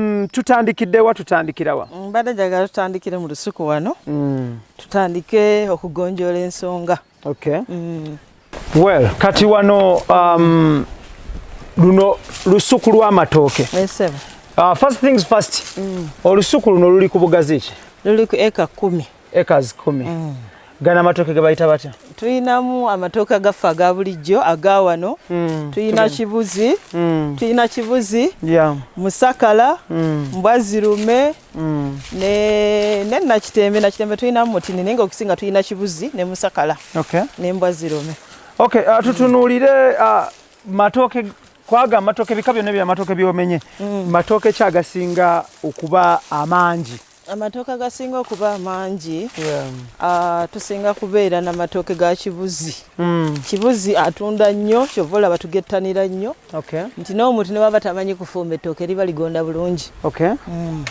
Mm, tutandikidde wa tutandikira wa mm, mbadde njagala tutandikire mu lusuku wano mm. tutandike okugonjoola ensonga okay. mm. well kati wano um, luno lusuku lw'amatooke yes, uh, first things first mm. olusuku luno luli ku bugazi ki luli ku eka kumi acres kumi mm. gana amatoke gebayita batya tulinamu amatoke agaffe aga bulijjo aga wano mm. tulina kibuzi mm. tulina kibuzi yeah. musakala mm. mbwazirume mm. ne nakitembe nakitembe tulinamu mutini naye nga okusinga tulina kibuzi ne musakala okay. ne mbwazirume okay, uh, tutunuulire uh, matooke kwaga amatooke bika byonna byamatooke byomenye mm. matooke kyagasinga okuba amangi Amatooke agasinga okuba amangi yeah. uh, tusinga kubeera na matooke ga kibuzi mm. kibuzi atunda nnyo kyova olaba tugettanira nnyo okay. nti n'omuntu ne baba tamanyi kufumba ettooke liba ligonda bulungi okay. mm.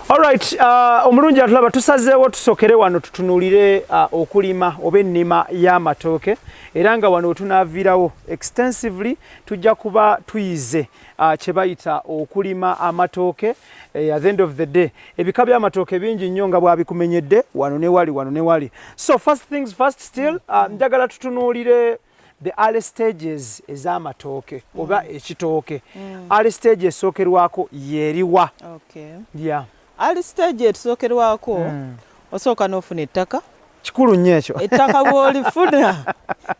Alright, uh, omulungi atulaba tusazeewo tusokere wano tutunulire uh, okulima oba ennima y'amatooke era nga wano wetunaaviirawo extensively tujja kuba tuyize uh, kyebayita okulima amatooke eh, at the end of the day ebika byamatooke bingi nnyo nga bwabikumenyedde wano newali wano newali so first things first still mm. ah, njagala uh, tutunuulire the early stages ez'amatooke mm. oba ekitooke mm. early stage esookerwako yeriwa okay. yeah. Ali stage etusokerwako mm. osooka n'ofuna ettaka kikulu nnyo ekyo ettaka bwolifuna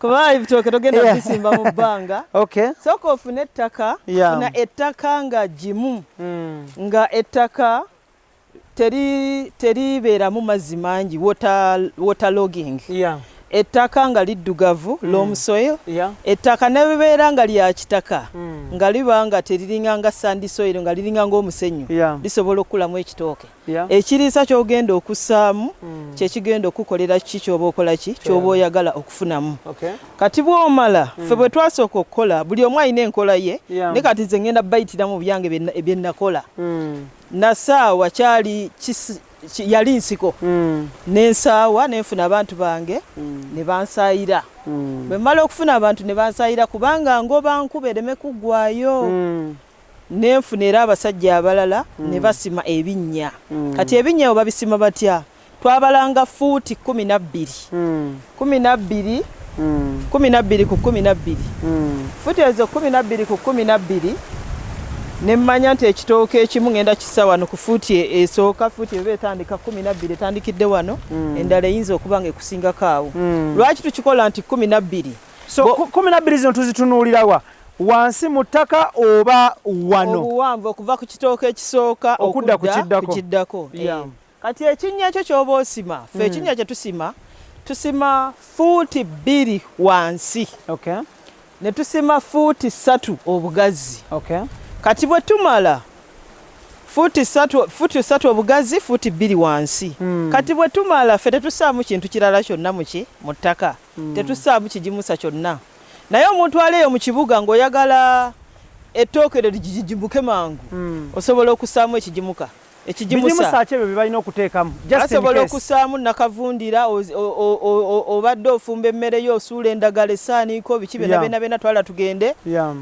kuba ebitooke togenda bisimba mu bbanga sooka ofune ettaka funa ettaka nga gimu hmm. nga ettaka teribeeramu mazzi mangi water logging ettaka nga liddugavu mm. loam soil yeah. ettaka nebebeera nga lya kitaka mm. nga liba nga teriringa nga sandi soil nga liringa ngaomusenyu yeah. lisobola okukulamu ekitooke yeah. ekiriisa kyogenda okussaamu mm. kyekigenda okukukolera kiki kyoba okola ki kyoba yeah. oyagala okufunamu okay. kati bwomala mm. fe bwe twasooka okukola buli omu alina enkola ye yeah. ne kati ze ngenda bayitiramu byange byenakola mm. nasaawa kyali yali nsiko mm. nensaawa nenfuna abantu bange mm. nebansaayira mm. bwemala okufuna abantu nebansaayira kubanga ngoba nkuba ereme kuggwayo mm. nenfuna era abasajja abalala mm. nebasima ebinnya mm. kati ebinnya yo babisima batya twabalanga fuuti kumi nabbiri mm. kumi nabbiri mm. kumi nabbiri ku kumi nabbiri mm. futi ezo kumi nabbiri ku kumi nabbiri nemmanya nti ekitooka ekimu ngenda kisa wano ku fuuti e, esooka fuuti eba etandika kumi nabbiri etandikidde wano mm. endala eyinza okuba nga ekusingako awo mm. lwaki tukikola nti kumi nabbiri so kumi nabbiri zino tuzitunuulirawa wansi mu ttaka oba wano obuwanvu okuva ku kitooka ekisooka okudda ku kiddako yeah. Kati ekinnya kyo ky'oba osima ffe hmm. ekinnya kye tusima tusima fuuti bbiri wansi ne tusima fuuti ssatu obugazi kati bwe tumala fuuti ssatu obugazi fuuti bbiri wansi hmm. kati bwe tumala ffe tetusaamu kintu kirala kyonna muki mu ttaka hmm. tetusaamu kigimusa kyonna naye omuntu aleeyo mu kibuga ng'oyagala ettooke lyo ligijimuke mangu osobola okusaamu ekigimuka ekigimusa ki ebyo bye balina okuteekamu asobola okusaamu nakavundira obadde ofumba emmere yo osuula endagala esaaniiko biki byona byona byona twala tugende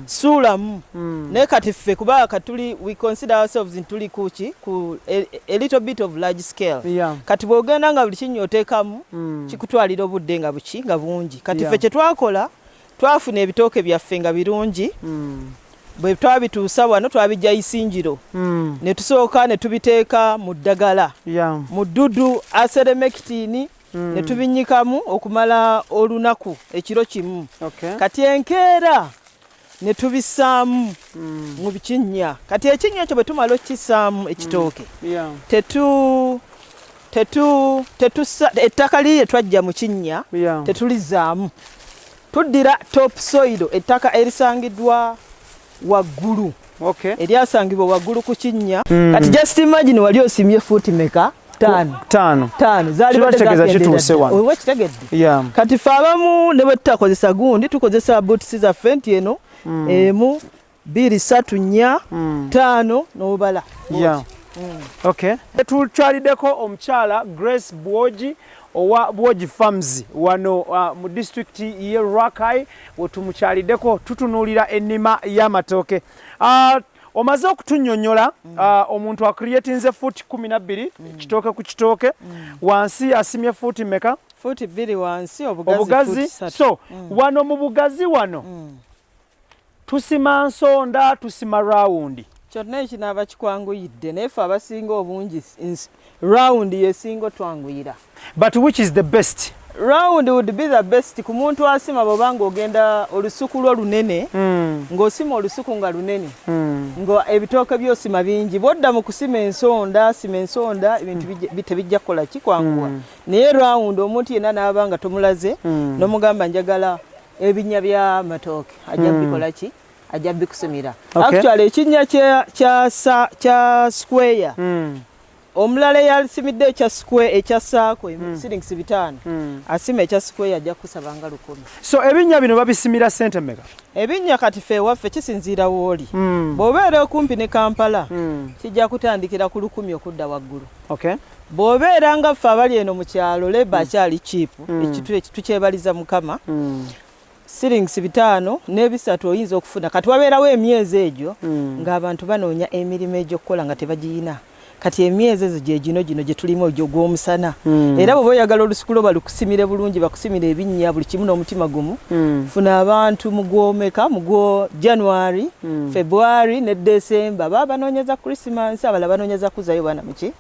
suulamu hmm. naye kati ffe kuba katuli we consider ourselves ntuli kuki ku a little bit of large scale kati bwogenda nga buli kinyo oteekamu hmm. kikutwalira obudde nga buki nga bungi kati ffe kyetwakola Twafuna ebitooke byaffe nga birungi mm. bwe twabituusa wano twabijja isingiro mm. ne tusooka ne tubiteeka mu ddagala yeah. mu ddudu aseremekitini mm. ne tubinyikamu okumala olunaku ekiro kimu okay. kati enkeera ne tubisaamu mm. mu bikinnya kati ekinnya ekyo bwe tumala okukisaamu ekitooke mm. yeah. tetu tetu tetusa ettaka lirye twajja mu kinnya yeah. tetulizaamu tuddira top soido ettaka erisangiddwa waggulu okay. eryasangibwa waggulu ku kinnya mm. kati just imagine wali osimye fuuti meka tano zalibategeza kituuse wano yeah. kati fe abamu ne bwe tutakozesa gundi tukozesa boots zaffe nti eno mm. emu bbiri satu nnya mm. taano n'obala yeah. mm. okay. tukyaliddeko omukyala grace bwogi owa bwogi farms wano uh, mu disitulikiti ye rakai wetumukyaliddeko tutunuulira ennima y'amatooke uh, omaze okutunyonyola mm. uh, omuntu acreatinze fuuti kumi nabbiri mm. kitooke ku kitooke mm. wansi asimye fuuti meka fuuti bbiri wansi obugazi, obugazi. so mm. wano mu bugazi wano mm. tusima nsonda tusima rawundi kyonna ekinaaba kikwanguyidde naye fe abasinga obungi rawundi yesinga otwanguyira but which is the best round would be the best ku muntu asima bwoba ng'ogenda olusuku lwo lunene mm. ng'osima olusuku nga lunene mm. nga ebitooke byosima bingi bwodda mu kusima ensonda sima ensonda ebintu mm. tebijja kukola kikwanguwa mm. naye round omuntu yenna n'aba nga tomulaze mm. n'omugamba njagala ebinya bya matooke ajja hmm. bikola ki ajja bikusimira actually ekinya kya kya kya square hmm. omulala yasimidde ekya square ekya saako hmm. silings bitaano asima ekya square ajja kusaba nga lukumi so ebinya bino babisimira sente meka ebinya kati fe waffe kisinziira wooli bw'obeera okumpi ne kampala kijja kutandikira ku lukumi okudda waggulu okay bwobeera nga ffe abali eno mu kyalo leba mm. akyali kiipu mm. ekitu tukyebaliza mukama mm. sirings bitaano n'ebisatu oyinza okufuna kati wabeerawo emyezi egyo ng'abantu banoonya emirimu egyokukola nga tebagiyina kati emyezi ezo gyegino gino gyetulimu egyo gw'omusana era bwoba oyagala olusikulo balukusimire bulungi bakusimire ebinnya buli kimu n'omutima gumu funa abantu mugwomeka mugwo january february ne december baba banoonyeza christmas abala banoonyeza kuzayo baana muki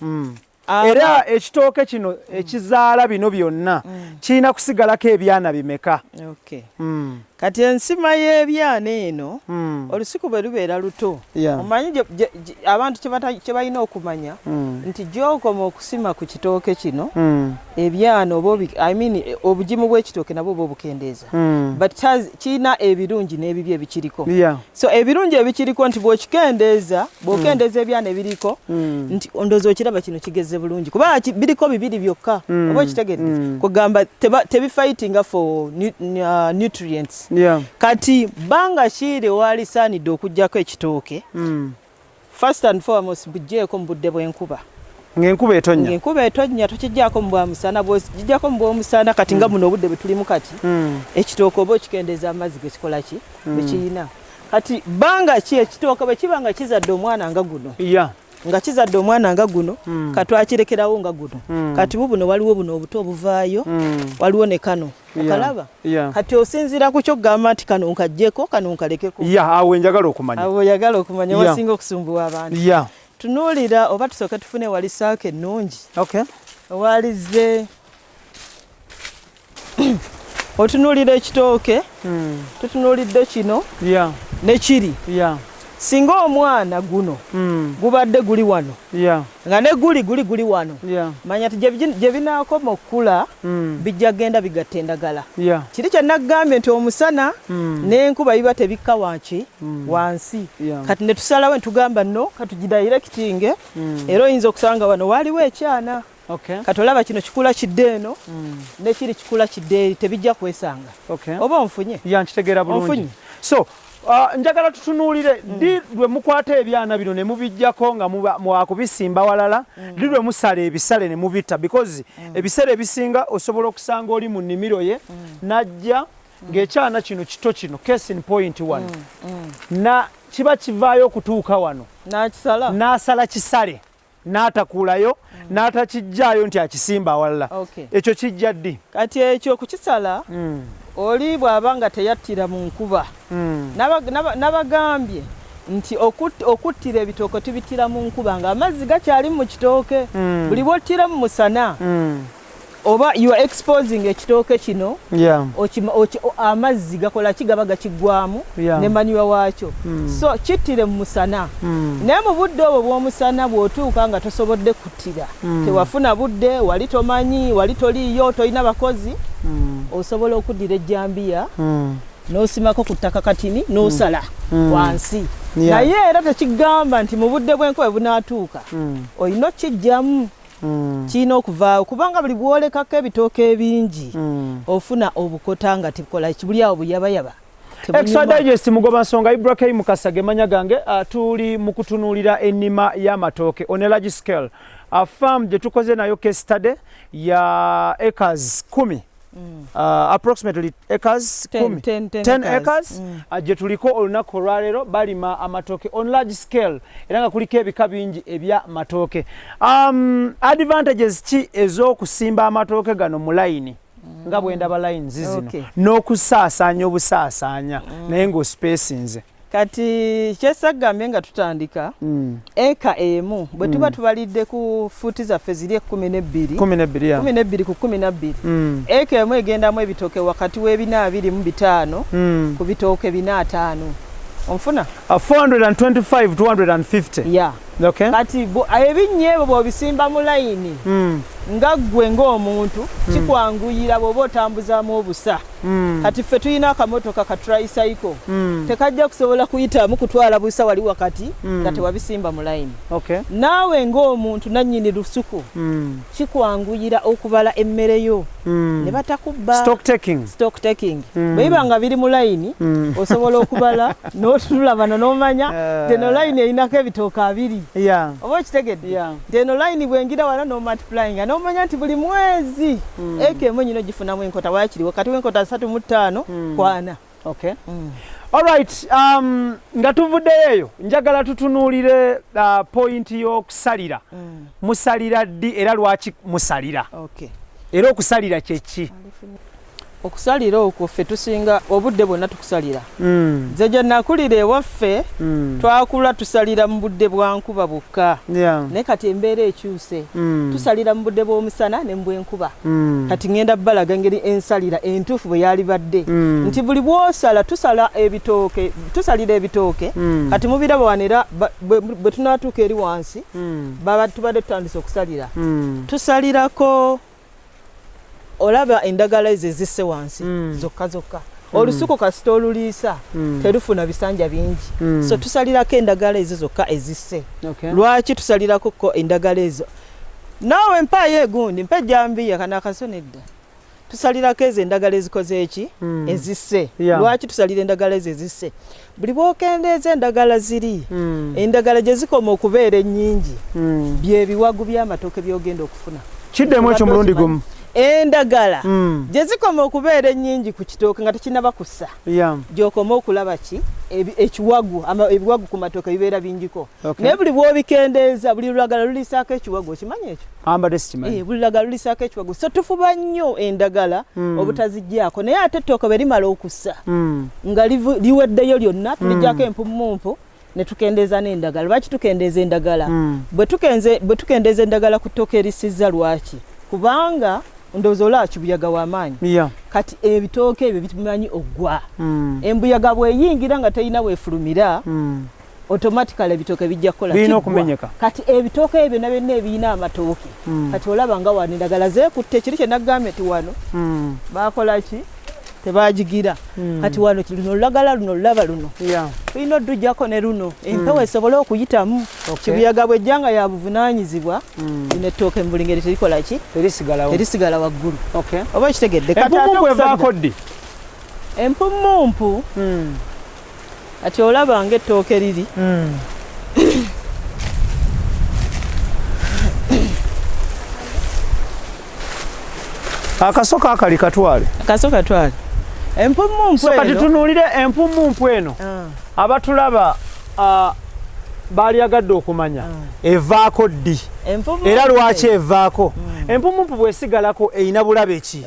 mm. era ekitooke kino ekizaala bino byonna mm. kirina kusigalako ebyana bimeka mm. kati ensima y'ebyana eno mm. olusiku bwe lubeera luto omanyi abantu kye balina okumanya nti gyokoma okusima ku kitooke kino ebyana oba I mean eh, obugimu bw'ekitooke nabwo oba obukendeeza hmm. but kirina ebirungi n'ebibi ebikiriko so ebirungi ebikiriko nti bw'okikendeeza bw'okendeeza hmm. ebyana ebiriko hmm. nti ndoozi okiraba kino kigeze bulungi kuba biriko bibiri byokka oba okitegedde kugamba tebifightinga for uh, nutrients kati banga kiire waalisaanidde okugyako ekitooke First and foremost bujjeeko mu budde bw'enkuba ng'enkuba etonnya ng'enkuba etonnya tokijjako mu bwamusana bwokijjako mu bwomusana kati nga mm. buno obudde bwetulimu kati mm. ekitooke oba okikendeeza amazzi gekikola ki mm. bwekiyina kati bbanga ki ekitooke bwe kiba nga kizadde omwana nga guno nga kizadde omwana nga guno katwakirekerawo nga guno kati bubuno waliwo buno obuto obuvaayo waliwo ne kano okalaba kati osinziira ku kyokugamba nti kano nkajjeko kano nkalekeko awo enjagala okumanya awo oyagala okumanya wasinga okusumbuwa abantu tunuulira oba tusooke tufune wali saako ennungi owalizze otunuulira ekitooke hmm. tutunuulidde kino nekiri singa omwana guno mm. gubadde guli wano yeah. nga ne guli guli guli wano yeah. manya ti gye binaakoma okukula mm. bijja genda bigatta endagala yeah. kiri kyenagambye nti omusana mm. n'enkuba biba tebikka wanki mm. wansi yeah. kati ne tusalawo ne tugamba no katugidayirekitinge mm. era oyinza okusanga wano waaliwo ekyana okay. kati olaba kino kikula kidde eno mm. nekiri kikula kidde eri tebijja kwesanga okay. oba onfunye yankitegeera bulungi so Uh, njagala tutunuulire mm. ddi lwe mukwata ebyana bino ne mubijjako nga mwakubisimba walala mm. ddi lwe musala ebisale ne mubitta because mm. ebiseera ebisinga osobola okusanga oli mu nnimiro ye najja ng'ekyana kino kito kino case in point one na kiba kivaayo okutuuka wano n'asala kisale n'atakuulayo mm. n'atakijjaayo nti akisimba awalala ekyo kijja ddi kati ekyo kukisala mm. oli bw'aba nga teyattira mu nkuba mm. nabagambye nti okuttira ebitooke tubittira mu nkuba ng'amazzi gakyali mu kitooke buli bwottira mu musana oba you are exposing ekitooke kino yeah. amazzi gakola ki gaba gakigwamu yeah. ne manyuwa waakyo mm. so kittire mu musana mm. naye mu budde obwo bw'omusana bw'otuuka nga tosobodde kuttira mm. tewafuna budde wali tomanyi wali toliiyo tolina bakozi mm. osobola okuddira ejjambiya mm. n'osimako ku ttaka katini n'osala mm. mm. wansi yeah. naye era tekigamba nti mu budde bw'enkobe bunaatuuka mm. olina okukijjamu mm. kirina okuvaawo kubanga buli bwolekako ebitooka ebingi mm. ofuna obukota nga tikola buli awo buyabayaba Extra Digest mugoba nsonga Ibrahim Mukasa gemanya gange uh, tuli mu kutunuulira ennima y'amatooke on a large scale uh, farm gye tukoze nayo case study ya acres kumi Mm. Uh, approximately acres 10, 10, 10, 10 acres mm. uh, gye tuliko olunaku olwaleero balima amatooke on large scale era nga kuliko ebika bingi ebya matooke um, advantages ki ez'okusimba amatooke gano mu layini mm. nga bwendaba layini zizino okay. n'okusaasaanya obusaasaanya mm. naye ng'ospesinze kati kyesagambye nga tutandika mm. eka emu bwe tuba mm. tubalidde ku fuuti zaffe ziri ekumi nebbiri kumi nebbiri ku kumi nabbiri mm. eka emu egendamu ebitooke wakati w'ebina abiri mu bitaano ku bitooke bina ataano onfuna 425250 okay. kati ebinnya ebyo bwobisimba mu layini nga ggwe ng'omuntu kikwanguyira bw'oba otambuzamu obusa mm. kati ffe tulina akamotoka ka tricycle mm. tekajja kusobola kuyitamu kutwala busa wali wakati mm. nga tewabisimba mu layini okay. naawe ng'omuntu nannyini lusuku mm. kikwanguyira okubala emmere yo mm. ne batakubba stock taking, stock taking. Mm. bwe biba nga biri mu layini mm. osobola okubala n'otulula bano n'omanya uh. teno layini erinako ebitooka abiri yeah. oba okitegedde yeah. Eno line bwengira wano no multiplying nomanya nti buli mwezi mm. eke emu nyino gifunamu enkota wakiriwo kati wenkota asatu mu ttaano mm. kwana okay. mm. Alright, um, nga tuvuddeyo eyo njagala tutunuulire uh, point y'okusalira mm. musalira ddi era lwaki musalira okay. era okusalira kyeki okusalira okwo ffe tusinga obudde bwonna tukusalira mm. nze gye nakulira ewaffe mm. twakula tusalira mu budde bwa nkuba bwokka yeah. naye kati embeera ekyuse mm. tusalira mu budde bw'omusana ne mbwenkuba mm. kati ŋenda balaga engeri ensalira entuufu bwe yali badde mm. nti buli bwosala tusala ebitooke tusalira ebitooke mm. kati mubiraba wano era bwe tunaatuuka eri wansi mm. baba tubadde tutandise okusalira mm. tusalirako olaba endagala ezo ezisse wansi mm. zokka zokka mm. olusuku kasita oluliisa mm. terufuna bisanja bingi mm. so tusalirako endagala ezo zokka ezisse okay. lwaki tusalirakoko endagala ezo naawe mpaayo egundi mpa ejambiya kana akasona edda tusalirako ezo endagala ezikoze eki mm. ezisse yeah. lwaki tusalira endagala ezo ezisse buli bwokendeeza endagala ziri mm. endagala gye zikoma okubeera ennyingi mm. byebiwagu by'amatooke byogenda okufuna kiddemu ekyo mulundi gumu endagala mm. gye zikoma okubeera ennyingi ku kitooke nga tekinaba kussa yeah. gyokoma okulaba ki ekiwagu ebiwagu ku matooke bibeera bingiko okay. naye buli bwobikendeeza buli lulagala luliisaako ekiwagu okimanyi ekyo ambadde sikimanyi eh, buli lagala lulisaako ekiwago so tufuba nnyo endagala mm. obutazigyako naye ate ettooke bwe limala okussa mm. nga liweddeyo lyonna hmm. tuligyako mm. empumumpu ne tukendeeza n'endagala lwaki tukendeeza endagala mm. bwe tukendeeza endagala ku ttooke erisizza lwaki kubanga ndowooza olaba kibuyaga wamaanyi yeah. kati ebitooke ebyo bimanyi oggwa mm. embuyaga bweyingira nga terina wefulumira mm. automatically ebitooke bijja kukola birina okumenyeka kati ebitooke ebyo byonna byonna ebirina amatooke mm. kati olaba nga wano endagala zekutte kiri kyenagambye ti wano mm. bakola ki tebagigira mm. kati wano luno olulagala luno olulaba luno tulina oddujjako ne luno hmm. empewo mm. esobole okuyitamu okay. kibuyaga bwejjanga ya buvunanyizibwa mm. lino ettooke mu buli ngeri terikola ki terisigala waggulu okay. oba kitegedde kati ate okusaga empumumpu mm. kati olaba nga ettooke liri hmm. akaso kakali katwale akaso katwale empumu mpu eno kati tunuulire empumu mpu eno ah. abatulaba ah, baalyagadde okumanya ah. evaako ddi era lwaki evaako hmm. empumu mpu bwesigalako erina bulabe ki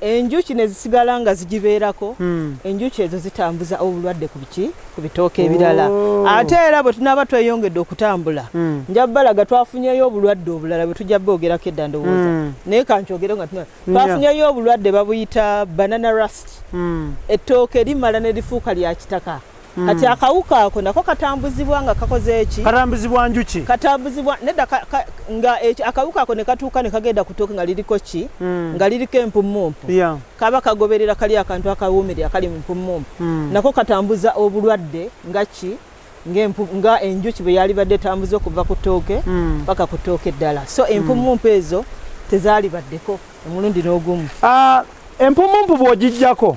enjuki nezisigala nga zigibeerako hmm. enjuki ezo zitambuza obulwadde kubiki ku bitooka ebirala oh. ate era bwe tunaaba tweyongedde okutambula hmm. nja balaga twafunyeyo obulwadde obulala bwe tujja boogerako edda ndowooza hmm. naye kankyogere nga twafunyeyo obulwadde babuyita banana rust ettooke limala ne lifuuka lya kitaka Mm. Kati akawuka ako nako katambuzibwa nga kakoze eki? Katambuzibwa njuki. Katambuzibwa nedda ka, ka, nga eki, akawuka ako ne katuuka ne kagenda ku ttooke nga liriko ki? Mm. Nga liriko empummumpu. Yeah. Kaba kagoberera kali akantu akawuumirira kali mu mpummumpu. Mm. Nako katambuza obulwadde nga ki? nga enjuki bwe yalibadde etambuza okuva ku ttooke mm. paka mm. ku ttooke eddala so empummumpu mm. ezo tezalibaddeko omulundi n'ogumu uh, ah, empummumpu bw'ogijjako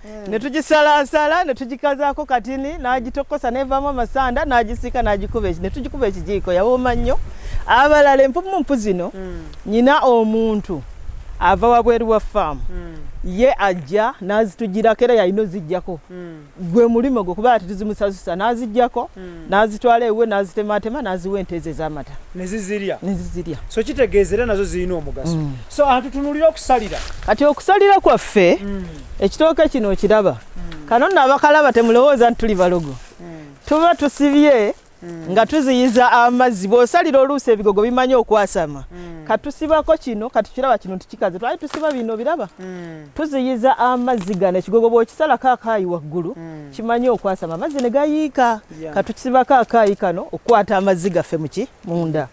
mm. ne tugisalaasala ne tugikazaako katini n'agitokosa neevaamu amasanda n'agisiika n'agikuba ne tugikuba ekijiiko yawooma nnyo abalala empumumpu zino mm. nyina omuntu ava wabweru wa faamu mm. ye ajja n'azitugirako era yalina ozijjako mm. gwe mulimu gwe kuba ati tuzimusasusa n'azijjako mm. n'azitwala ewe n'azitematema n'aziwa ente ezo ez'amata nezizirya nezizirya so kitegeeza era nazo zirina omugaso mm. so atutunulira okusalira kati okusalira kwaffe mm. ekitooke kino okiraba hmm. kano nno abakalaba temulowooza nti tuli balogo hmm. tuba tusibye hmm. nga tuziyiza amazzi bwosalira oluusi ebigogo bimanyi okwasama katusibako kino katukiraba kino tukikaze twali tusiba bino biraba tuziyiza amazzi gano ekigogo bwokisalako akaayi waggulu kimanyi okwasama amazzi ne gayiika katukisibako akaayi kano okukwata amazzi gaffe muki munda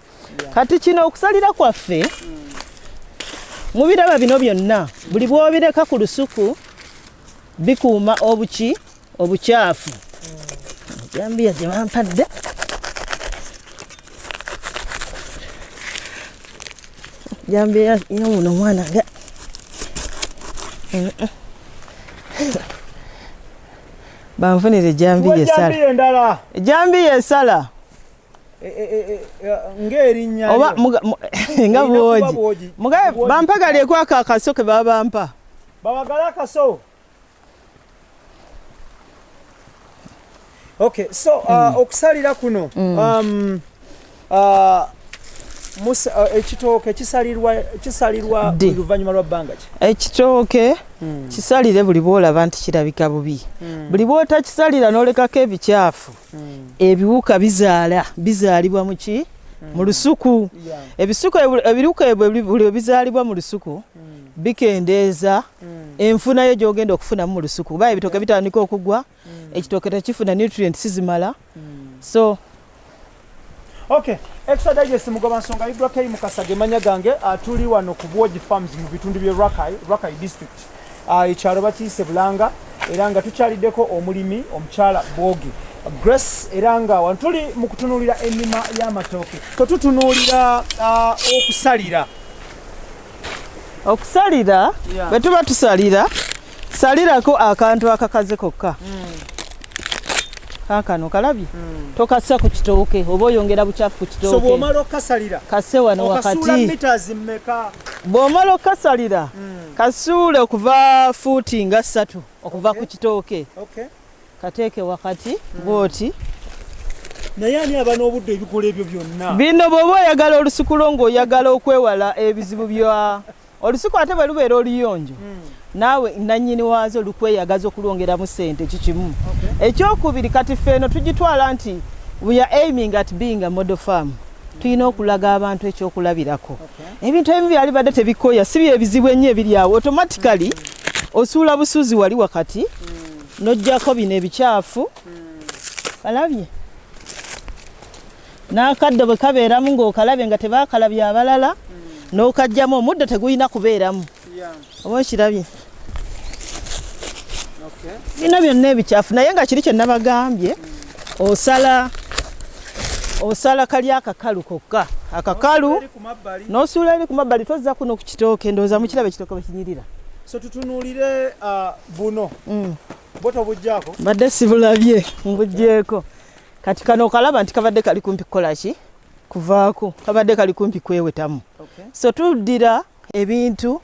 kati kino okusalira kwaffe mubiraba bino byonna buli bwobireka ku lusuku bikuuma obuki obukyafu jambiya gye bampadde jambiya yomuno omwana nga banfunire jambiya esala jambiya esala Eh, eh, eh, ng'erinnya oba nga bwogi mugabe bampa galeeko ako akaso ke babampa babagala akaso okay so uh, mm. okusalira kuno mm. um, uh, uh, ekitooke kisalirwa luvannyuma lwa bbanga ki ekitooke mm. kisalire buli bwolaba nti kirabika bubi buli bwotakisalira n'olekako ebikyafu hmm. ebiwuka bizaala bizaalibwa muki hmm. mu lusuku ebisuku ebiwuka ebyo bizaalibwa mu lusuku hmm. bikendeeza enfuna yo gyogenda okufunamu mu lusuku kuba ebitooke bitandika okugwa ekitooke tekifuna nutrient sizimala so okay extra digest mugoba nsonga ibrahim mukasa gemanya gange atuli ah, wano ku bwogi farms mu bitundu bye rakai rakai district ah, ekyalo bakiise bulanga era nga tukyaliddeko omulimi omukyala bwogi grace era nga wano tuli mu kutunuulira ennima y'amatooke ko tutunuulira ah, okusalira okusalira bwe tuba tusalira salirako akantu akakaze kokka hmm. kakano kalabye hmm. tokassa ku kitooke oba oyongera bukyafu ku kitooke kase wano wakati bw'omala okukasalira hmm. Kasuule okuva fuuti nga ssatu okuva ku kitooke kateeke wakati bwoti naye ani aba n'obudde ebikola ebyo byonna bino bw'oba oyagala olusuku lwo ng'oyagala okwewala ebizibu bya olusuku ate bwe lubeera oluyonjo hmm. naawe nannyini waazo lukweyagaza okulwongeramu ssente kikimu ekyokubiri kati ffe eno tugitwala nti we are aiming at being a model farm tulina okulaga abantu ekyokulabirako ebintu ebimu byali badde tebikoya si byebizibu ennyo ebiri awo automatically osuula busuuzi wali wakati mm. nojjako bino ebikyafu mm. alabye n'akaddo bwe kabeeramu ng'okalabye nga tebaakalabye abalala mm. n'okajjamu omuddo tegulina kubeeramu oba okirabye bino byonna ebikyafu naye nga kiri kyenabagambye osala osala kali akakalu kokka akakalu nosuula eri ku mabbali tozza kuno ku kitooke ndowooza mukiraba ekitooke bwekinyirira so tutunuulire uh, buno mm. bo tobujjako mbadde sibulabye mbujjeeko kati kano okalaba nti kabadde kali kumpi kukola ki kuvaako kabadde kali kumpi kwewetamu so tuddira ebintu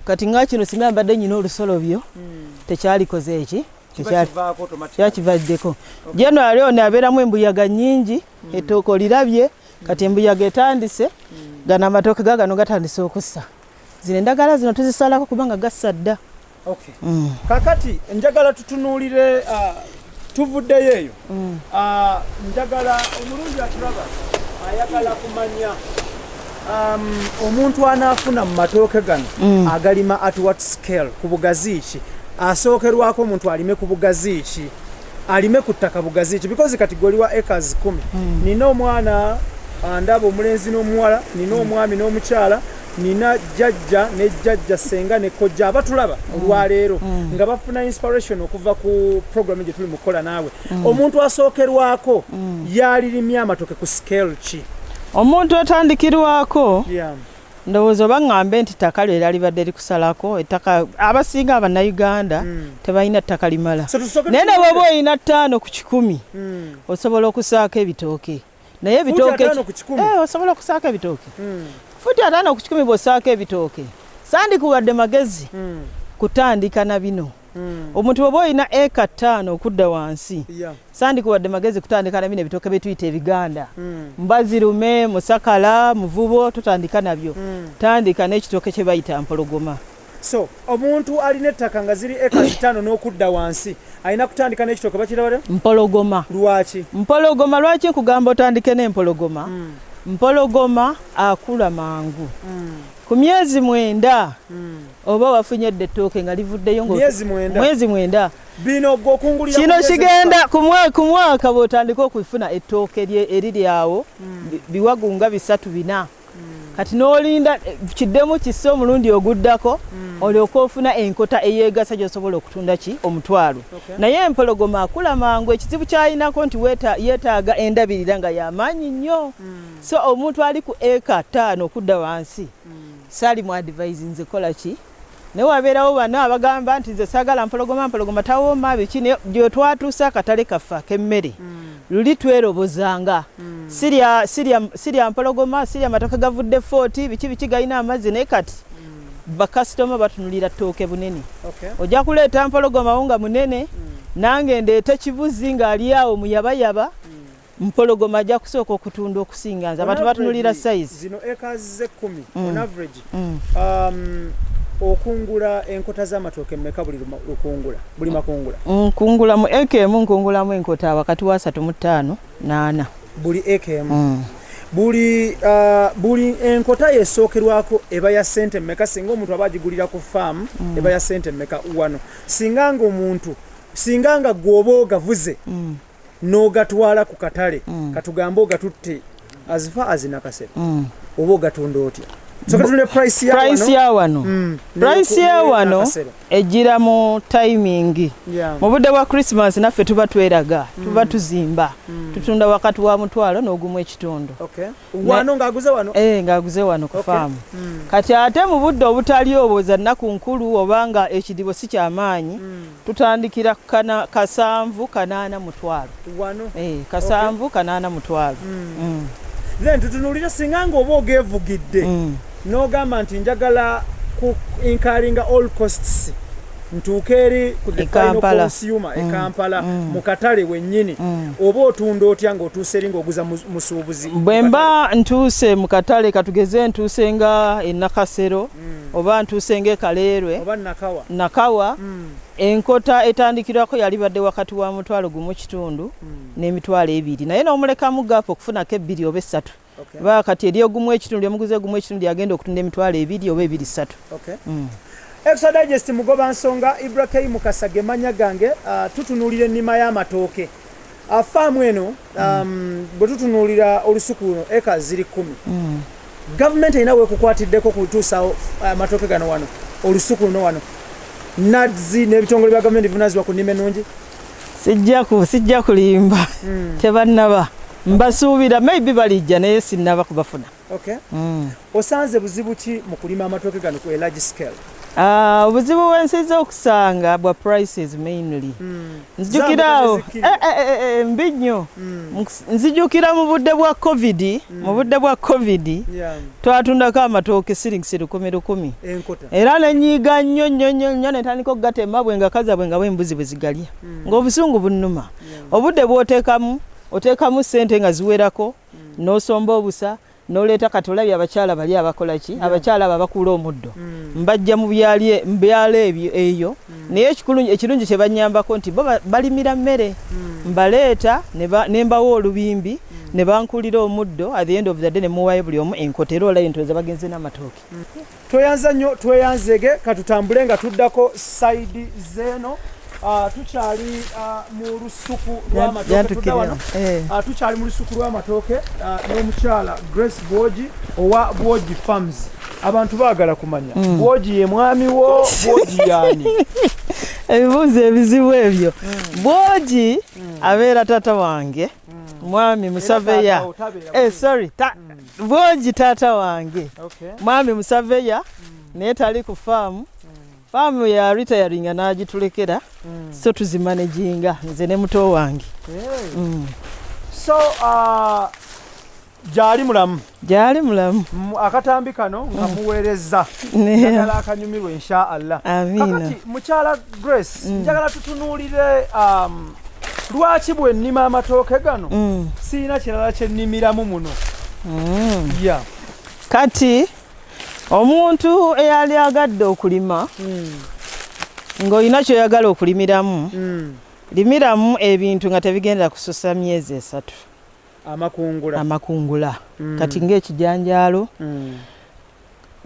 kati nga kino singa mbadde nyina olusolobyo hmm. tekyalikoze eki kyakivaddeko january ono abeeramu embuyaga nyingi hmm. etooka olirabye hmm. kati embuyaga etandise gano amatooke gagano gatandise okussa zino endagala zino tuzisalako kubanga gassa dda Okay. Mm. Kakati njagala tutunuulire uh, tuvuddeyo eyo mm. uh, njagala omulungi atulaba ayagala kumanya um, omuntu anaafuna mu matooke gano mm. agalima at what scale ku bugazi ki asookerwako omuntu alime ku bugazi ki alime ku ttaka bugazi ki because kati goli wa acres kumi mm. nina omwana andaba omulenzi n'omuwala nina mm. omwami n'omukyala nina jajja ne jajja senga ne kojja abatulaba mm. olwaleero mm. nga bafuna inspiration okuva ku program gye tuli mukukola naawe mm. omuntu asookerwako mm. yalirimya amatoke ku scale ki omuntu atandikirwako yeah. ndowooza oba ŋŋambe nti ttaka lyo era libadde likusalako ettaka abasinga abannayuganda hmm. tebalina ttaka limala naye ne bwoba olina ttaano ku kikumi hmm. osobola okusaako ebitooke naye ebitooke eh, osobola okusaako ebitooke hmm. futi ataano ku kikumi bwosaako ebitooke sandikuwadde magezi kutandika na bino omuntu bwoba olina eka ttaano okudda wansi Sandiku wadde magezi kutandika na bino ebitooke bye tuyita ebiganda mm. mbazirume musakala muvubo totandika nabyo mm. tandika n'ekitooke kye bayita mpologoma so omuntu alina ettaka nga ziri eka zitaano n'okudda wansi alina kutandika n'ekitooke bakirabada mpologoma lwaki mpologoma lwaki nkugamba otandike n'empologoma mm. mpologoma akula mangu mm. ku myezi mwenda mm. oba wafunye dda ettooke nga livuddeyo mwezi mwenda bino gwokungulira kino kigenda ku mwaka bwotandika okufuna ettooke eriri awo hmm. biwagu nga bisatu bina hmm. kati n'olinda eh, kiddemu kisse omulundi oguddako hmm. olyoka ofuna enkota eyegasa gyosobola okutunda ki omutwalo naye empologoma akula mangu ekizibu kyalinako nti yetaaga endabirira nga yamaanyi nnyo so omuntu ali ku eka taano okudda wansi Sali mu advise nze kola ki naye wabeerawo bano abagamba nti nze saagala mpologoma mpologoma tawooma biki naye gyetwatuusa akatale kaffe ak'emmere mm. luli twerobozanga mm. sirya sirya sirya mpologoma sirya matoke gavudde footi biki biki galina amazzi naye kati mm. bakasitoma batunulira ttooke bunene okay. ojja kuleeta mpologomawo nga munene mm. nange ndeete kibuzi ng'ali awo muyabayaba mm. mpologoma ajja kusooka okutunda okusinga nze abantu batunulira size zino acres ze kumi mm. on average mm. um, okungula enkota z'amatooke meka buli lukungula buli makungula nkungula mm, mu eka emu nkungulamu enkota wakati wa asatu mu ttaano naana buli eka emu mm. buli uh, buli enkota yesookerwako eba ya sente meka singa omuntu aba agigulira ku faamu mm. eba ya sente meka wano singa nga omuntu singa nga gwoba ogavuze mm. n'ogatwala ku katale mm. katugambe ogatutte azifa azinakasera mm. oba ogatunda otya price ya wano mm. price ya wano ejira mu timing mu budde bwa christmas naffe tuba tweraga mm. tuba tuzimba mm. tutunda wakati wa mutwalo n'ogumu ekitundu eh, ng'aguze wano ku faamu kati ate mu budde obutali obwo za nnaku nkulu oba nga ekidibo si kyamaanyi tutandikira kana kasanvu kanaana mutwalo wano eh, kasanvu okay. kanaana mutwalo mm. Mm. then tutunulira singa nga oba ogevugidde mm. nogamba nti njagala ku inkaringa all costs ntuuka eri ku the final consumer e mm. Kampala mm. mu katale wennyini mm. oba otunda otya ng'otuuse eri ng'oguza musuubuzi bwe mba ntuuse mu katale katugeze ntuuse nga e Nakasero mm. oba ntuuse ngaekaleerwe nakawa mm. enkota etandikirwako yali badde wakati wa mutwalo gumu kitundu mm. n'emitwalo ebiri naye n'omulekamu gaapu okufunako ebbiri oba essatu okay. ba kati eri ogumu ekitundu lyemuguzi ogumu ekitundu lyagenda okutunda emitwalo ebiri oba ebiri ssatu okay. mm. exodigest mugoba nsonga ibrahimu kasage manya gange uh, tutunulira ennima y'amatooke Ah, faamu eno um, bwe tutunuulira olusuku luno eka ziri kkumi mm. gavumenti erina wekukwatiddeko kutuusa uh, amatooke gano wano olusuku luno wano nazi n'ebitongole bya gavumenti bivunazibwa ku nnima ennungi sijja kulimba mm. tebannaba mbasuubira maybe balijja naye sinnaba kubafuna Okay. Mm. Osanze buzibu ki mu kulima amatooke gano ku a large scale? Uh, obuzibu bwensiza okusanga bwa prices mainly mm. nzijukirawo eh, eh, eh, eh, eh, mbi nnyo mm. nzijukira mu budde bwa covid mm. mu budde bwa covid yeah. twatundako amatooke silings lukumi lukumi era nenyiiga nnyo nnyo nnyo nnyo netandika okugatema bwe nga kaza bwe nga bwembuzi bwe zigalya mm. ng'obusungu bunnuma yeah. obudde bwotekamu otekamu sente nga ziwerako mm. nosomba obusa noleeta kati olabye abakyala bali abakola ki yeah. abakyala abo abakuula omuddo mm. mbajja mu byalo ebyo eyo mm. naye ekirungi kye banyambako nti bo balimira mmere mm. mbaleeta ne mbawa olubimbi mm. ne bankulira omuddo at the end of the day ne muwayo buli omu enkota era olabye nti oza bagenze n'amatooke mm. Tweyanza nnyo tweyanzege katutambule nga tuddako sayidi zeeno ah, tukyali ah, mu lusuku lwamatooketudawanatukyali eh. ah, mu lusuku lw'amatooke n'omukyala grace bwogi owa bwogi farms abantu baagala kumanya mm. bwogi ye mwami wo bwogi yaani ebibuuzo ebizibu ebyo mm. bwogi mm. abeera tata wange mwami musaveya eh, sorry Bwogi taata wange okay. Mwami Musaveya mm. naye tali ku faamu mm. faamu ya ritayaringa n'agitulekera mm. so tuzimanaginga nze ne muto wange hey. mm. so uh, gyali mulamu gyali mulamu akatambi kano nga mm. muweereza njagala akanyumirwa insha allah kakati mukyala grace mm. njagala tutunuulire um, lwaki bwe nnima amatooke gano mm. sirina kirala kye nnimiramu muno mm. ya kati omuntu eyali agadde okulima mm. ng'olina kyoyagala okulimiramu limiramu ebintu nga tebigenda kususa myezi esatu amakungula amakungula kati ng'ekijanjaalo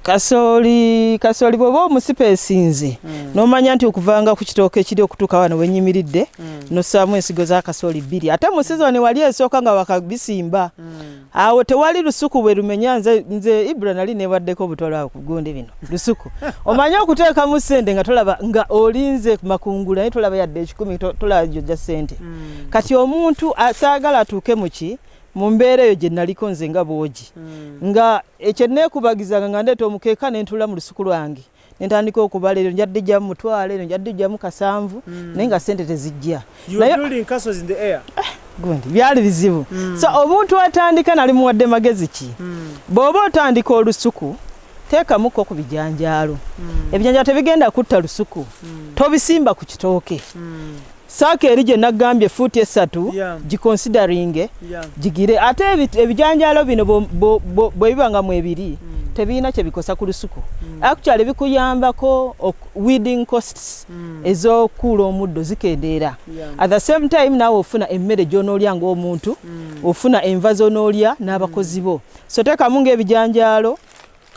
kasooli kasooli bwoba omusipa esinze mm. nomanya nti okuvanga ku kitooka ekiri okutuuka wano wenyimiridde mm. nosaamu ensigo za kasooli bbiri ate mu sizoni wali esooka nga wakabisimba mm. awo tewali lusuku bwe lumenya nze, nze ibra nali nebaddeko obutwala kugunde bino lusuku omanye okuteekamu sente nga tolaba nga olinze makungula naye tolaba yadde ekikumi tolaba joja sente mm. kati omuntu asaagala atuuke muki mu mbeera eyo gye naliko nze nga bwogi hmm. nga ekyo neekubagizanga nga ndeeta omukeeka ne ntuula mu lusuku lwange ne ntandika okubala eryo njadde jjamu mutwalo eryo njadde jjamu kasanvu hmm. naye nga ssente tezijja eh, gundi byali bizibu hmm. so omuntu atandika nali muwadde magezi ki bw'oba otandika olusuku teekamuko ku bijanjaalo ebijanjaalo tebigenda kutta lusuku tobisimba ku kitooke saaka eri gye naggambye fuuti essatu gikonsideringe gigire ate ebijanjaalo bino bwe biba nga mu ebiri mm. tebirina kye bikosa ku lusuku mm. actually bikuyambako weeding costs mm. ez'okuula omuddo zikendeera at the same time naawe ofuna emmere gy'onoolya ng'omuntu ofuna enva z'onoolya n'abakozi bo so teekamu ng'ebijanjaalo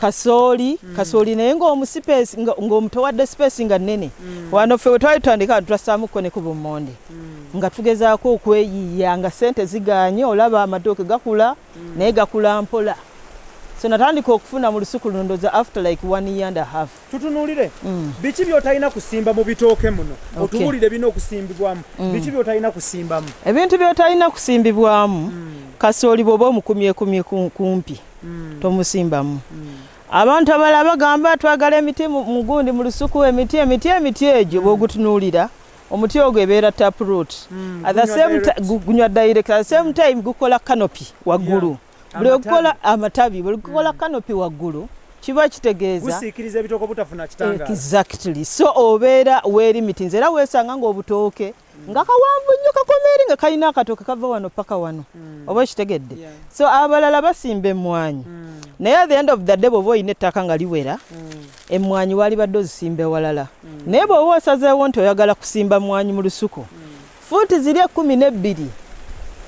kasooli mm. kasooli naye ngaomusipesi ngaomutowadde sipesi nga nene mm. wano ffe wetwali tutandika bantu twassaamukko ne ku bummonde mm. nga tugezaako okweyiya nga sente ziganye olaba amatooke gakula mm. naye gakula mpola so natandika okufuna mu lusuku luno ndoza after like one year and a half tutunulire mm. biki byotalina kusimba mu bitooke muno otubulire bina okusimbibwamu mm. biki byotalina kusimbamu ebintu byotalina kusimbibwamu mm. kasooli bwoba omukumyekumye kumpi tomusimbamu abantu abala bagamba twagala emiti mugundi mu lusuku emiti emiti emiti egyo bwogutunulira omuti ogwo ebeera taproot gunywa direct at the same time gukola canopy waggulu buli okukola amatabi buli kukola kanopi waggulu kiba kitegeezagusiikiriza ebitoko butafuna kitanga exactly so obeera weerimitinza era weesanga ng'obutooke mm. nga kawanvu nnyo kakomeeri nga kalina akatooke kava wano paka wano mm. oba kitegedde yeah. so abalala basimba emmwanyi mm. naye at the end of the day bw'oba olina ettaka nga liwera mm. emmwanyi waalibadde ozisimba ewalala mm. naye bw'oba osazeewo nti oyagala kusimba mmwanyi mu lusuku mm. fuuti ziri ekkumi n'ebbiri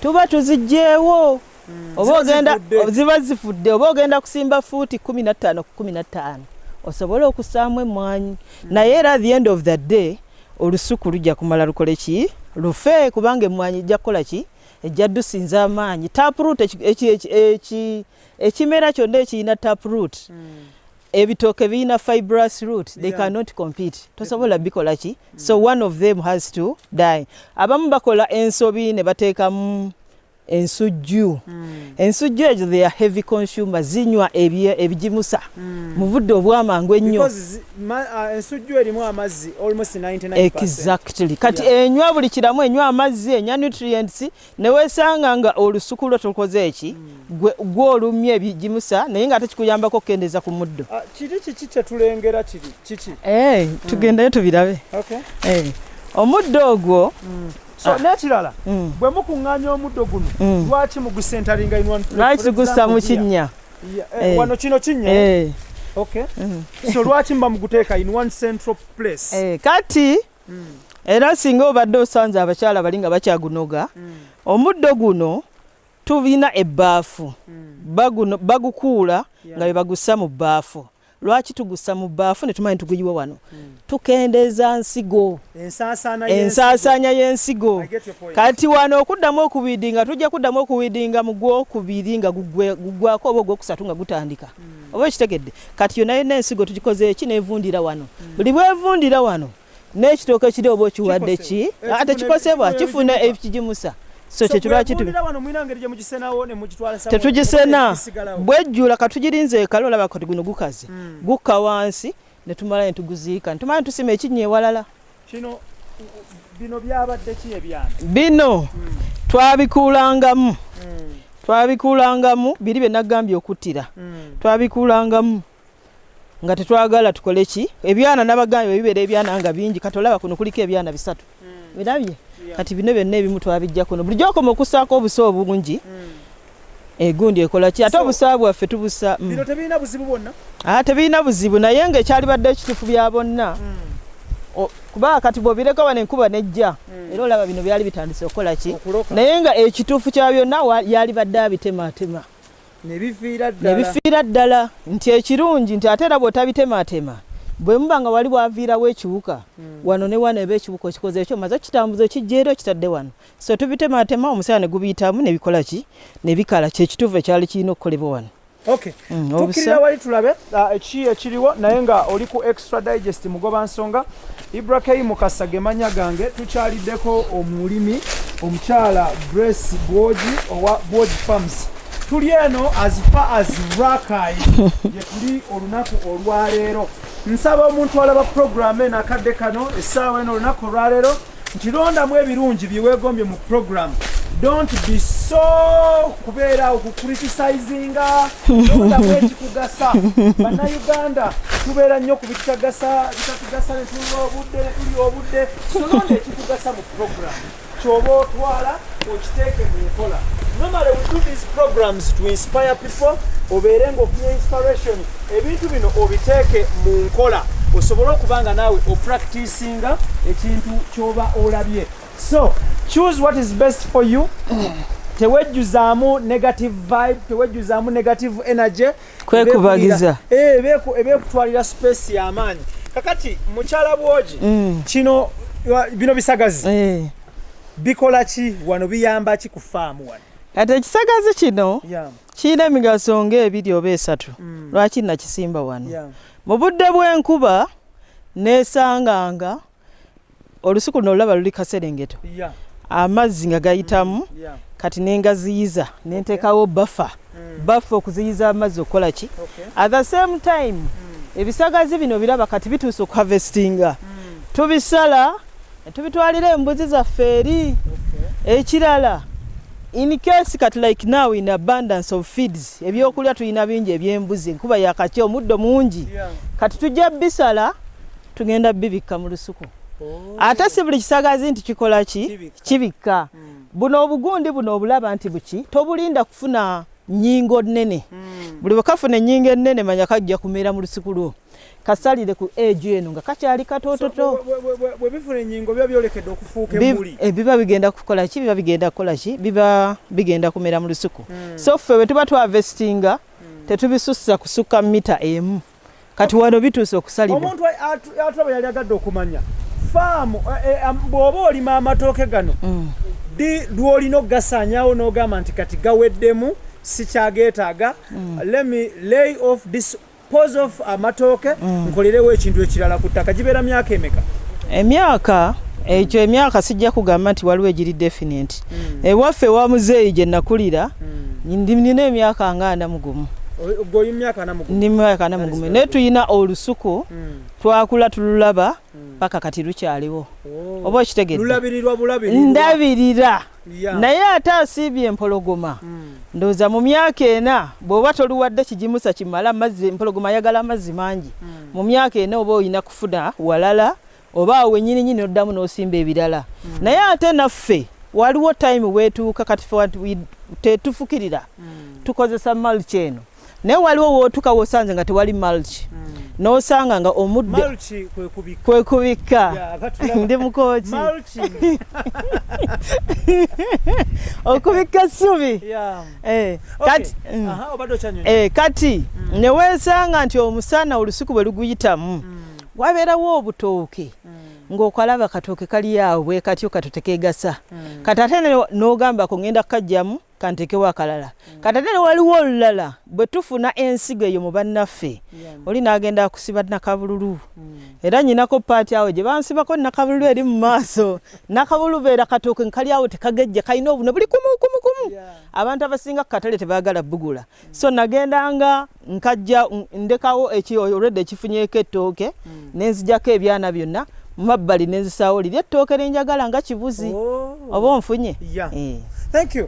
tuba tuzigyewo mm. oba ogenda ziba zifudde oba ogenda kusimba fuuti kumi na ttaano ku kumi na ttaano osobole okusaamu emmwanyi mm. naye era the end of the day olusuku lujja kumala lukole ki lufe kubanga emmwanyi ejja kukola ki ejja dusinza amaanyi taproot ekimera kyonna ekirina taproot mm. ebitooke birina fibrous root they yeah. cannot compete tosobola bikola ki mm. so one of them has to die abamu bakola ensobi ne bateekamu ensujju mm. ensujju ezo they are heavy consumer zinywa ebigimusa mm. mu budde obwamangu ennyo uh, ensujju erimu amazzi almost 99 exactly kati yeah. enywa buli kiramu enywa amazzi enya nutrients newesanga nga olusuku lwo tukoze eki mm. gwolumya ebigimusa naye nga ate kikuyambako okukendeza ku muddo uh, kiri kiki kyetulengera kiri kiki hey, eh, tugendayo mm. tubirabe okay. hey. Eh, omuddo ogwo mm. so ah. nekirala mm. bwe mukuŋŋaanya omuddo guno mm. lwaki mugusentaringa lwaki gussa mu kinnya eh, eh. wano kino kinnya eh. okay mm. so lwaki mba muguteeka in one central place kati era singa obadde osanze abakyala bali nga bakyagunoga omuddo guno tulina ebbaafu bagukuula nga bebagussa mu bbaafu lwaki tugussa mu bbaafu ne tumanyi tuguyiwa wano hmm. tukendeeza nsigo ensaasaanya y'ensigo kati wano okuddamu okuwidinga tujja kuddamu okuwidinga mu gwokubiri nga gugwako oba ogwokusatu nga gutandika hmm. oba ekitegedde kati yona yonna ensigo tugikoze eki nevundira wano hmm. buli bwevundira wano n'ekitooke kiri oba okiwadde ki eh, ate kikosebwa kifuna ekigimusa so kyekirwaki tetugisena bwejjula katugirinze ekale olaba kati guno gukaze hmm. gukka wansi netumala netuguziika netumala netusima ekinnya ewalala bino byabadde ki ebyana bino hmm. twabikuulangamu hmm. twabikuulangamu biri bye nagambye okuttira twabikuulangamu nga tetwagala tukole ki ebyana nabagambye bibera ebyana nga bingi kati olaba kuno kuliko ebyana bisatu mm. birabye yeah. kati bino byonna ebimu twabijja kuno bulijjo okoma okusaako obusa obungi mm. egundi ekola ki ate obusa bwaffe tubusa mm. tebirina buzibu bwonna ah, tebirina buzibu naye nga ekyalibadde ekitufu bya bonna mm. kuba kati bwobireka wano enkuba nejja hmm. era olaba bino byali bitandise okukola ki naye nga ekituufu kya byonna yalibadde abitematema nebifiira ddala nti ekirungi nti ate era bwotabitemaatema bwe muba nga wali waviirawo ekiwuka hmm. wano ne wano eba ekiwuka okikoze ekyo maze okitambuza okijja era okitadde wano so tubitemaatema omusaala ne gubiyitamu ne bikola ki ne bikala kyekituufu ekyali kirina okukolebwa wano hmm, tukirira wali tulabe ah, ki ekiriwo naye nga oli ku Extra Digest mugoba nsonga Ibrahim Mukasa gemanya gange tukyaliddeko omulimi omukyala Grace Bwoji owa Bwoji Farms tuli eno as far as Rakai yetuli olunaku olwaleero nsaba omuntu alaba program eno akadde kano essaawa eno olunaku olwaleero nti londamu ebirungi bye weegombye mu puroguramu don't be so kubeera okucritisizinga londamu ekikugasa bannayuganda tubeera nnyo ku bitutagasa bitatugasa ne tulwa obudde ne tuli obudde solonda ekikugasa mu puroguramu kyoba otwala okiteeke mu nkola normally we do these programs to inspire people obeere ngaofunye inspiration ebintu bino obiteeke mu nkola osobole okuba nga naawe opracticinga ekintu kyoba olabye so choose what is best for you tewejjuzaamu negative vibe tewejjuzaamu negative energy kwekubagiza ebekutwalira eh, space yamaanyi kakati mukyala bwogi mm. kino bino bisagazi eh. bikola ki wano biyamba ki ku faamu wano kati ekisagazi kino kirina emigaso ngaebiri oba esatu mm. lwaki nakisimba wano mu budde bw'enkuba nesanganga olusuku luno olulaba luli kaserengeto amazzi nga gayitamu mm, kati nengaziyiza nentekawo bafa mm. baffe okuziyiza amazzi okukola ki okay. at the same time mm. ebisagazi bino biraba kati bituuse okuhavestinga mm. tubisala tubitwalira embuzi zaffe eri okay. ekirala in case kati like now in abundance of feeds ebyokulya tulina bingi ebyembuzi enkuba yakakya omuddo mungi yeah. kati tujja bisala tugenda bibikka mu lusuku oh. ate si buli kisagazi nti kikola ki kibikka mm. buno obugundi buno obulaba nti buki tobulinda kufuna nyingo nene mm. buli bwekafuna enyingo enene manya kajja kumera mu lusiku lwo kasalire ku age eno nga kakyali katototo bwebifuna enyingo biba byolekedde okufuuka emuli eh, biba bigenda kukola ki biba bigenda kukola ki biba bigenda kumera mu lusiku mm. so ffe bwe tuba twavestinga mm. tetubisussa kusukka mita emu mm. kati wano bituuse okusalibwa omuntu atulaba yali agadde okumanya faamu eh, eh, bw'oba olima amatooke gano mm. di lw'olina okugasaanyawo n'ogamba nti kati gaweddemu sikyageetaaga mm. let me lay off this pose of amatooke mm. nkolerewo ekintu ekirala ku ttaka gibeera myaka emeka emyaka ekyo emyaka sijja kugamba nti waliwo egiri definite mm. ewaffe wa muzeeyi gye nakulira mm. nina emyaka nga ana mugumu ndi myaka ana mugumu naye tulina olusuku mm. twakula tululaba paka kati lukyaliwo oh. oba okitegedndabirira naye ate asiibye empologoma ndowooza mu myaka ena bw'oba toluwadde kigimusa kimala mazzi empologoma ayagala amazzi mangi mu myaka ena oba olina kufuna walala oba awo wenyini nyini oddamu n'osimba ebirala mm. naye ate naffe waliwo time wetuuka kati tetufukirira mm. tukozesa mulch eno naye waliwo wotuuka wosanze nga tewali mulch mm. nosanga nga omudde kwekubikka ndi mukoki okubikka essubi eh, mm. eh, kati mm. newesanga nti omusana olusuku bwe luguyitamu mm. wabeerawo obutooke mm. ng'okalaba katooke kali awo bwe katyo kato tekeegasa mm. kati ate n'ogamba ko ngenda kukajjamu kanteekewo akalala mm. kati ate ne waliwo olulala bwe tufuna ensigo eyo mu bannaffe oli n'agenda akusiba nakabululu era nyinako paati awo gye bansibako nakabululu eri mu maaso nakabululu beera katooke nkali awo tekagejja kalina obune buli kumuukumukumu abantu abasinga ku katale tebaagala bugula so nagendanga nkajja ndekawo eki already ekifunyeko ettooke mm. nenzijako ebyana byonna mumabbali nenzisaawo liri ettooke nenjagala nga kibuzi oh. oba onfunye yeah. eh. Thank you.